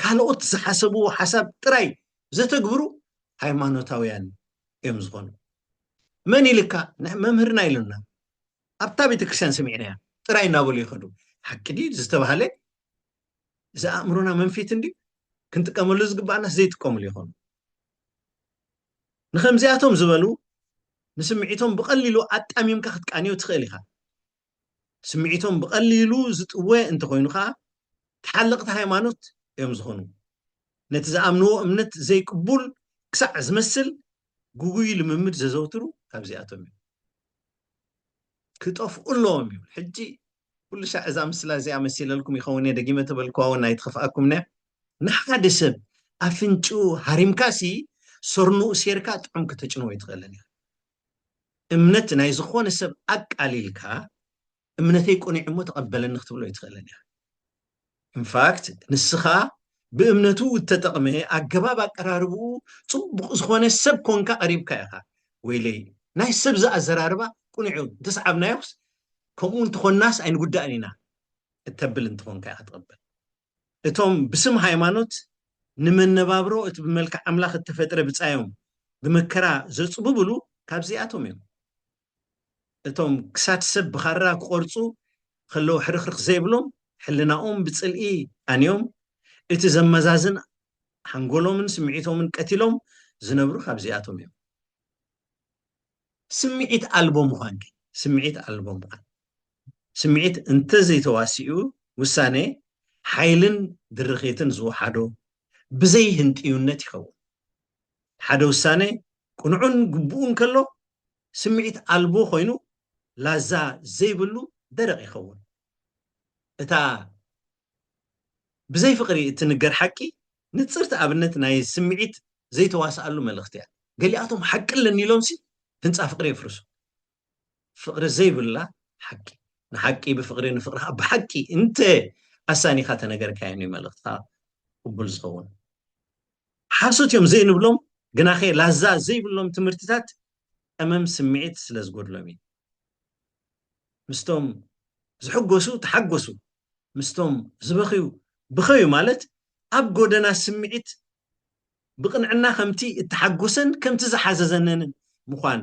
ካልኦት ዝሓሰብዎ ሓሳብ ጥራይ ዘተግብሩ ሃይማኖታውያን እዮም ዝኾኑ መን ኢልካ መምህርና ኢሉና ኣብታ ቤተክርስትያን ሰሚዕናያ ጥራይ እናበሉ ይኸዱ ሓቂ ድዩ ዝተባሃለ እዚ ኣእምሮና መንፊት እንዲ ክንጥቀመሉ ዝግባኣና ዘይጥቀምሉ ይኾኑ ንከምዚኣቶም ዝበሉ ንስምዒቶም ብቐሊሉ ኣጣሚምካ ክትቃንዮ ትኽእል ኢኻ። ስምዒቶም ብቐሊሉ ዝጥወ እንተኾይኑ ከዓ ተሓለቕቲ ሃይማኖት እዮም ዝኾኑ። ነቲ ዝኣምንዎ እምነት ዘይቅቡል ክሳዕ ዝመስል ግጉይ ልምምድ ዘዘውትሩ ካብዚኣቶም እዮም። ክጠፍኡ ኣለዎም ይብል። ሕጂ ኩሉ ሻዕ እዛ ምስላ እዚኣ መሲለልኩም ይኸውን እየ ደጊመ ተበልክዋ ውን ኣይትኸፍኣኩም ነያ። ንሓደ ሰብ ኣፍንጭኡ ሃሪምካ ሲ ሰርንኡ ሴርካ ጥዑም ከተጭንዎ ኣይትኽእልን ኢኻ። እምነት ናይ ዝኾነ ሰብ ኣቃሊልካ እምነተይ ቁኒዑ እሞ ተቐበለኒ ክትብሎ ኣይትኽእልን ኢኻ። in fact ንስኻ ብእምነቱ እተጠቕመ ኣገባብ ኣቀራርብኡ ጽቡቕ ዝኾነ ሰብ ኮንካ ቀሪብካ ኢኻ ወይለይ ናይ ሰብ ዝኣዘራርባ ቁኑዕ እዩ እንተሰዓብናዮስ ከምኡ እንተኾናስ ኣይንጉዳእን ኢና እተብል እንተኾንካ ኢኻ ትቕበል እቶም ብስም ሃይማኖት ንመነባብሮ እቲ ብመልክዕ ኣምላኽ እተፈጥረ ብጻዮም ብመከራ ዘጽብብሉ ካብዚኣቶም እዮም እቶም ክሳድ ሰብ ብኻራ ክቖርጹ ኸለዉ ሕርኽርኽ ዘይብሎም፣ ሕልናኦም ብጽልኢ ኣንዮም፣ እቲ ዘመዛዝን ሓንጎሎምን ስምዒቶምን ቀቲሎም ዝነብሩ ካብዚኣቶም እዮም። ስምዒት ኣልቦ ምዃን ግን፣ ስምዒት ኣልቦ ምዃን፣ ስምዒት እንተዘይተዋሲኡ ውሳኔ ሓይልን ድርኺትን ዝወሓዶ ብዘይ ህንጥዩነት ይኸውን። ሓደ ውሳነ ቅኑዕን ግቡእን ከሎ ስምዒት ኣልቦ ኮይኑ ላዛ ዘይብሉ ደረቕ ይኸውን። እታ ብዘይ ፍቕሪ እትንገር ሓቂ ንጽርቲ ኣብነት ናይ ስምዒት ዘይተዋስኣሉ መልእኽቲ እያ። ገሊኣቶም ሓቂ ኣለኒ ኢሎምሲ ህንጻ ፍቕሪ የፍርሱ። ፍቅሪ ዘይብላ ሓቂ ንሓቂ ብፍቅሪ ንፍቅሪ ከዓ ብሓቂ እንተ ኣሳኒኻ ተነገርካዮም እዩ መልእኽትኻ ቅቡል ዝኸውን ሓሶት እዮም ዘይንብሎም ግናኸ ላዛ ዘይብሎም ትምህርትታት ቀመም ስምዒት ስለ ዝጎድሎም እዩ ምስቶም ዝሕጎሱ ተሓጎሱ ምስቶም ዝበኽዩ ብኸዩ ማለት ኣብ ጎደና ስምዒት ብቕንዕና ከምቲ እተሓጐሰን ከምቲ ዝሓዘዘነንን ምዃን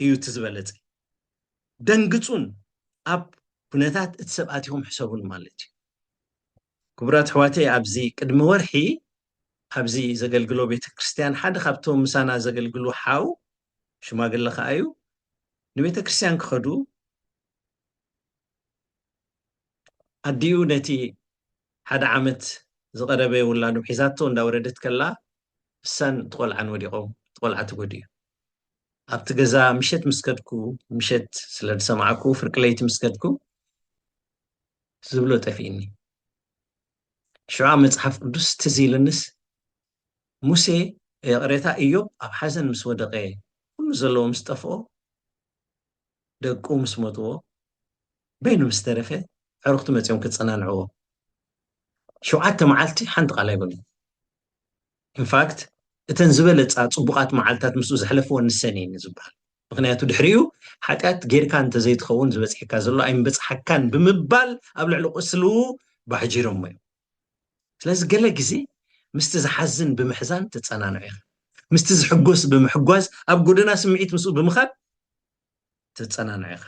እዩ እቲ ዝበለጸ። ደንግጹን ኣብ ኩነታት እቲ ሰብ ኣቲኹም ሕሰቡን ማለት እዩ። ክቡራት ኣሕዋተይ ኣብዚ ቅድሚ ወርሒ ኣብዚ ዘገልግሎ ቤተ ክርስቲያን ሓደ ካብቶም ምሳና ዘገልግሉ ሓው ሽማግለ ከኣ እዩ ንቤተ ክርስቲያን ክኸዱ ኣዲኡ ነቲ ሓደ ዓመት ዝቐረበ ውላዱ ሒዛቶ እንዳወረደት ከላ ንሳን እቲ ቆልዓን ወዲቖም እቲ ቆልዓ ተጎዲኡ። ኣብቲ ገዛ ምሸት ምስ ከድኩ ምሸት ስለ ዝሰማዕኩ ፍርቂ ለይቲ ምስ ከድኩ ዝብሎ ጠፊእኒ። ሽዑ መጽሓፍ ቅዱስ ትዝ ኢልንስ ሙሴ ይቕሬታ እዮብ ኣብ ሓዘን ምስ ወደቐ ኩሉ ዘለዎ ምስ ጠፍኦ ደቁ ምስ ሞትዎ በይኑ ምስ ተረፈ ዕሩኽቱ መጺኦም ክጸናንዕዎ ሸውዓተ መዓልቲ ሓንቲ ቃል ኣይበሉ ኢንፋክት እተን ዝበለፃ ፅቡቓት መዓልትታት ምስኡ ዘሕለፍዎ ንሰን እየን ዝበሃል ምክንያቱ ድሕሪኡ ሓጢኣት ጌርካ እንተዘይትኸውን ዝበፅሐካ ዘሎ ኣይምበፅሓካን ብምባል ኣብ ልዕሊ ቁስሉ ባሕጂሮሞ እዮም ስለዚ ገለ ግዜ ምስቲ ዝሓዝን ብምሕዛን ትጸናንዑ ኢኻ፣ ምስቲ ዝሕጎስ ብምሕጓዝ ኣብ ጎደና ስምዒት ምስኡ ብምኻድ ትጸናንዑ ኢኻ።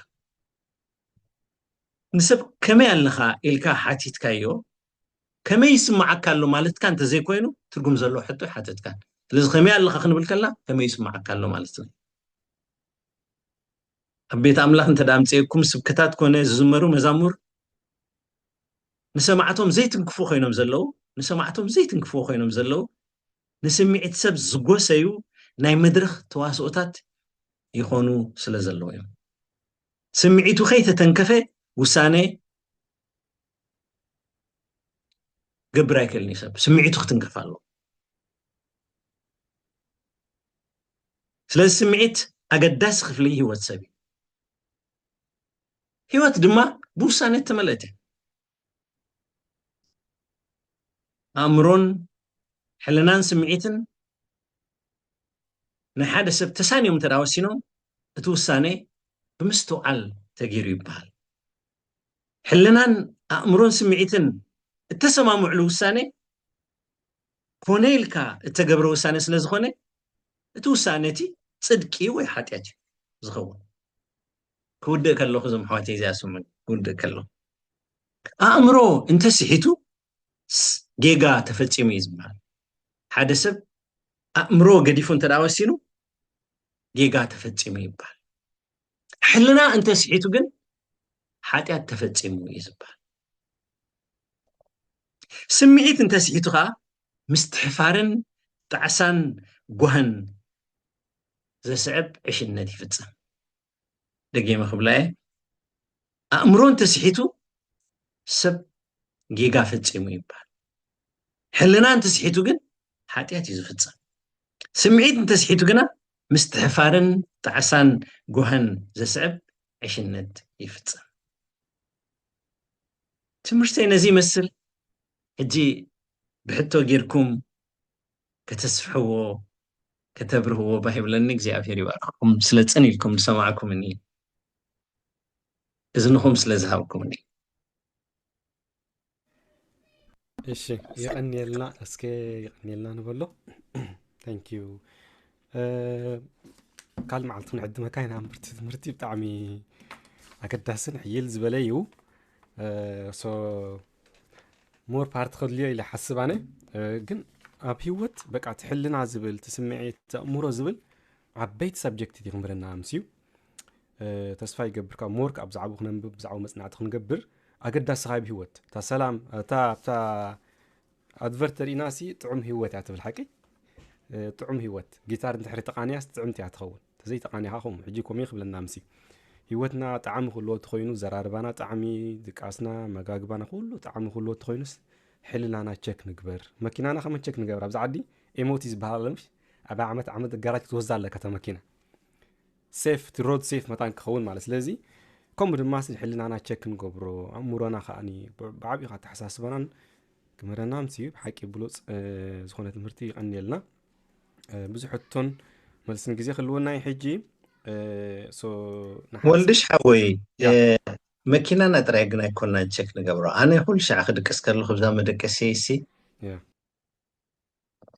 ንሰብ ከመይ ኣለኻ ኢልካ ሓቲትካዮ ከመይ ይስምዓካ ኣሎ ማለትካ እንተዘይኮይኑ ትርጉም ዘለዎ ሕቶ ኣይሓተትካን። ስለዚ ከመይ ኣለኻ ክንብል ከለና ከመይ ይስምዓካ ኣሎ ማለትና እዩ። ኣብ ቤት ኣምላኽ እንተ ኣምፅኤኩም ስብከታት ኮነ ዝዝመሩ መዛሙር ንሰማዕቶም ዘይትንክፉ ኮይኖም ዘለዉ ንሰማዕቶም ዘይትንክፍዎ ኮይኖም ዘለዉ ንስምዒት ሰብ ዝጎሰዩ ናይ መድረኽ ተዋስኦታት ይኾኑ ስለ ዘለዉ እዮም። ስምዒቱ ከይተተንከፈ ውሳነ ክገብር ኣይክእልን እዩ ሰብ ስምዒቱ ክትንከፍ ኣለዎ። ስለዚ ስምዒት ኣገዳሲ ክፍሊ ህይወት ሰብ እዩ። ህይወት ድማ ብውሳነ እተመልአት እያ ኣእምሮን ሕልናን ስምዒትን ናይ ሓደ ሰብ ተሳንዮም እንተ ወሲኖም እቲ ውሳነ ብምስትውዓል ተገይሩ ይበሃል ሕልናን ኣእምሮን ስምዒትን እተሰማምዕሉ ውሳነ ኮነ ኢልካ እተገብረ ውሳነ ስለ ዝኾነ እቲ ውሳነ እቲ ፅድቂ ወይ ሓጢኣት እዩ ዝኸውን ክውድእ ከለኹ እዞም ኣሕዋተይ እዚኣ ስሙኒ ክውድእ ከለኹ ኣእምሮ እንተስሒቱ ጌጋ ተፈፂሙ እዩ ዝበሃል ሓደ ሰብ ኣእምሮ ገዲፉ እንተ ወሲኑ ጌጋ ተፈፂሙ ይበሃል ሕልና እንተስሒቱ ግን ሓጢኣት ተፈፂሙ እዩ ዝበሃል ስምዒት እንተስሒቱ ከዓ ምስትሕፋርን ጣዕሳን ጓህን ዘስዕብ ዕሽነት ይፍጽም። ደጊመ ክብላየ ኣእምሮ እንተስሒቱ ሰብ ጌጋ ፈጺሙ ይበሃል። ሕልና እንተስሒቱ ግን ሓጢኣት እዩ ዝፍጸም። ስምዒት እንተስሒቱ ግና ምስትሕፋርን ጣዕሳን ጓህን ዘስዕብ ዕሽነት ይፍጽም። ትምህርተይ ነዚ ይመስል። ሕጂ ብሕቶ ጌርኩም ከተስፍሕዎ ከተብርህዎ ባህ ይብለኒ እግዚኣብሔር ይባርኽኩም ስለ ጽን ኢልኩም ዝሰማዕኩምኒ እዝንኹም ስለ ዝሃብኩምኒ እሺ ይቀኒየልና እስከ ይቀኒየልና ንበሎ ታንኪዩ ካልእ መዓልቲ ክንዕድመካ ኢና ምርቲ ትምህርቲ ብጣዕሚ ኣገዳስን ሕይል ዝበለ እዩ ሞር ፓርቲ ከድልዮ ኢለ ሓስብ ኣነ ግን ኣብ ሂወት በቃ ትሕልና ዝብል ትስምዒት ተእምሮ ዝብል ዓበይቲ ሰብጀክት እቲ ክንብለና ኣምስዩ ተስፋ ይገብር ካብ ሞርክ ኣብ ዛዕቡ ክነንብብ ብዛዕባ መፅናዕቲ ክንገብር ኣገዳሲ ካብ ሂወት እታ ሰላም እታ ኣብታ ኣድቨርት ርኢና ሲ ጥዑም ሂወት እያ ትብል ሓቂ ጥዑም ሂወት ጊታር እንድሕሪ ተቃንያስ ጥዕምቲ እያ ትኸውን ተዘይ ተቃኒኻ ከምኡ ሕጂ ኮሜ ክብለና ምስ ሂወትና ጣዕሚ ክህልዎ ተኮይኑ ዘራርባና ጣዕሚ ድቃስና መጋግባና ኩሉ ጣዕሚ ክህልዎ ተኮይኑስ ሕልናና ቸክ ንግበር መኪናና ከመን ቸክ ንገብር ኣብዚ ዓዲ ኤሞቲ ዝበሃል ኣለምሽ ኣብ ዓመት ዓመት ጋራጅ ክትወስዳ ኣለካ እታ መኪና ሴፍ እቲ ሮድ ሴፍ መታን ክኸውን ማለት ስለዚ ከምኡ ድማ ስ ሕልናና ቸክ ንገብሮ ኣእምሮና ከዓኒ ብዓብኡ ኣተሓሳስበናን ክምህረና ምስ ብሓቂ ብሉፅ ዝኾነ ትምህርቲ ይቐንየልና ብዙሕ ሕቶን መልስን ግዜ ክህልወና እዩ ሕጂ ወልድሽ ሓወይ መኪናና ጥራይ ግን ኣይኮናን ቸክ ንገብሮ ኣነ ኩሉ ሻዕ ክድቅስ ከለኹ ብዛ መደቀሲየይሲ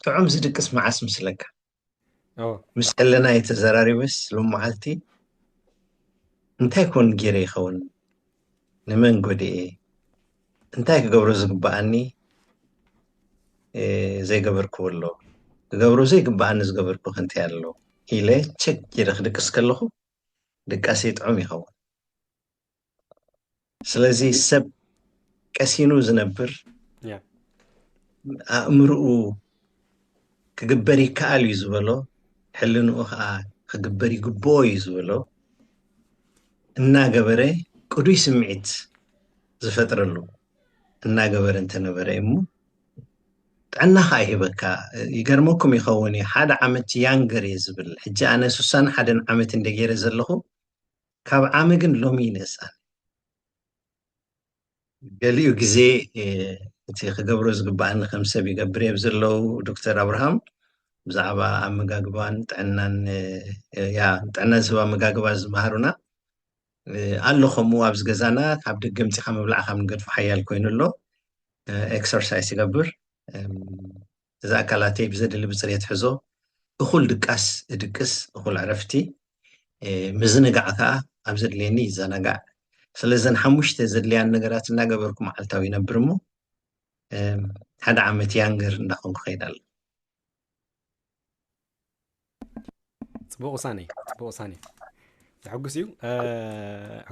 ጥዑም ዝድቅስ መዓስ ምስለካ ምስ ሕልና እየ ተዘራሪበስ ሎመዓልቲ እንታይ ኮን ገይረ ይኸውን ንመን ጎዲኤ? እንታይ ክገብሮ ዝግብኣኒ ዘይገበርክዎ ኣሎ? ክገብሮ ዘይግብኣኒ ዝገበርክዎ ከ እንታይ ኣሎ? ኢለ ቸክ ኢለ ክድቅስ ከለኹ ድቃሰይ ጥዑም ይኸውን። ስለዚ ሰብ ቀሲኑ ዝነብር ኣእምርኡ ክግበር ይከኣል እዩ ዝበሎ ሕልንኡ ከኣ ክግበር ይግብኦ እዩ ዝበሎ እናገበረ ቅዱይ ስምዒት ዝፈጥረሉ እናገበረ እንተነበረ እሞ ጥዕና ከኣ ይህበካ ይገርመኩም ይኸውን እዩ ሓደ ዓመት ያንገር እየ ዝብል ሕጂ ኣነ ስሳን ሓደን ዓመት እንደ ገይረ ዘለኹ ካብ ዓመ ግን ሎሚ ይንእሳን ገሊኡ ግዜ እቲ ክገብሮ ዝግብኣኒ ከም ሰብ ይገብር እየ ብዘለዉ ዶክተር ኣብርሃም ብዛዕባ ኣመጋግባን ጥዕናን ያ ጥዕና ዝህብ ኣመጋግባ ዝመሃሩና ኣሎ ከምኡ ኣብዚ ገዛና ካብ ደገ ምፂኻ ምብላዕ ካብ ንገድፎ ሓያል ኮይኑ ኣሎ ኤክሰርሳይስ ይገብር እዚ ኣካላተይ ብዘድሊ ብፅሬት ሕዞ፣ እኹል ድቃስ እድቅስ፣ እኹል ዕረፍቲ፣ ምዝንጋዕ ከዓ ኣብ ዘድልየኒ ይዘናጋዕ። ስለ እዘን ሓሙሽተ ዘድልያን ነገራት እናገበርኩ መዓልታዊ ይነብር እሞ ሓደ ዓመት ያንገር እንዳኾንኩ ኸይድ ኣሎ። ፅቡቅ ውሳኔ ፅቡቅ ውሳኔ ዘሐጉስ እዩ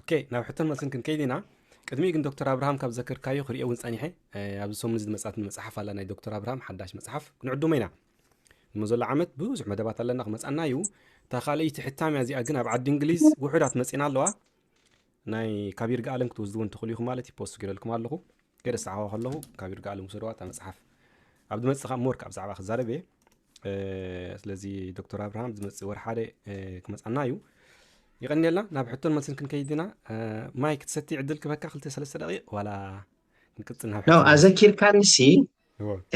ኦኬ ናብ ሕቶን መልስን ክንከይድ ኢና ቅድሚኡ ግን ዶክተር ኣብርሃም ካብ ዘክርካዮ ክሪኦ እውን ፀኒሐ ኣብዚ ሰሙን ዝመፅኣትኒ መፅሓፍ ኣላ ናይ ዶክተር ኣብርሃም ሓዳሽ መፅሓፍ ክንዕድሞ ኢና እሞ ዘሎ ዓመት ብዙሕ መደባት ኣለና ክመፅኣና እዩ እታ ካልኣይቲ ሕታም እያ እዚኣ ግን ኣብ ዓዲ እንግሊዝ ውሑዳት መፂና ኣለዋ ናይ ካብ ይርጋ ኣለም ክትወስድዎ እንትኽእሉ ኢኹም ማለት እዩ ፖስት ገረልኩም ኣለኹ ገደ ሰዓዋ ከለኹ ካብ ይርጋ ኣለም ውሰድዋ እታ መፅሓፍ ኣብ ዝመፅእ ካብ ሞርክ ኣብ ዛዕባ ክዛረብ እየ ስለዚ ዶክተር ኣብርሃም ዝመፅ ወር ሓደ ክመፃና እዩ ይቀኒየልና ናብ ሕቶን መልስን ክንከይድ ኢና ማይ ክትሰቲ ዕድል ክበካ ክልተ ሰለስተ ደቂቅ ዋላ ክንቅፅል ናብ ኣዘኪርካኒ ሲ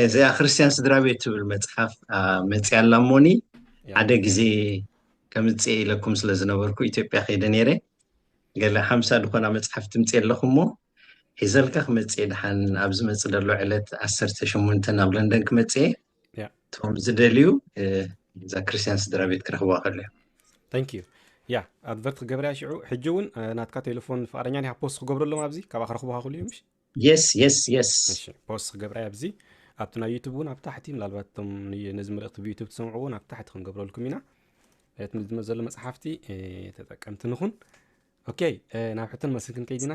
እዚኣ ክርስትያን ስድራ ቤት ትብል መፅሓፍ መፅያ ኣላ እሞኒ ሓደ ግዜ ከምፅኤ ኢለኩም ስለ ዝነበርኩ ኢትዮጵያ ከይደ ነይረ ገለ ሓምሳ ዝኾና መፅሓፍ ትምፅ ኣለኹ እሞ ሒዘልካ ክመፅኤ ድሓን ኣብ ዝመፅ ዘሎ ዕለት ዓሰርተ ሸሞንተን ኣብ ለንደን ክመፅኤ ያ እቶም ዝደልዩ እ፣ እዛ ክርስትያን ስድራ ቤት ክረኽብዋ ከሎ እዮም ታንክ ዩ ያ ኣድቨርት ክገብርያ ሽዑ ሕጂ እውን እ፣ ናትካ ቴሌፎን ፍቃደኛ ዲኻ ፖስት ክገብረሎም ኣብዚ ካብኣ ክረኽቡካ ክሉ እዮም እሺ የስ የስ የስ እሺ ፖስት ክገብርያ ኣብዚ ኣብቲ ናይ ዩቱብ እውን ኣብ ታሕቲ ምናልባት እቶም ን- ነዚ መልእኽቲ ብዩቱብ ትሰምዑ እውን ኣብ ታሕቲ ክንገብረልኩም ኢና እቲ ዝመ ዘሎ መፅሓፍቲ እ፣ ተጠቀምቲ ንኹን ኦኬ እ፣ ናብ ሕቶን መልስን ክንከይድ ኢና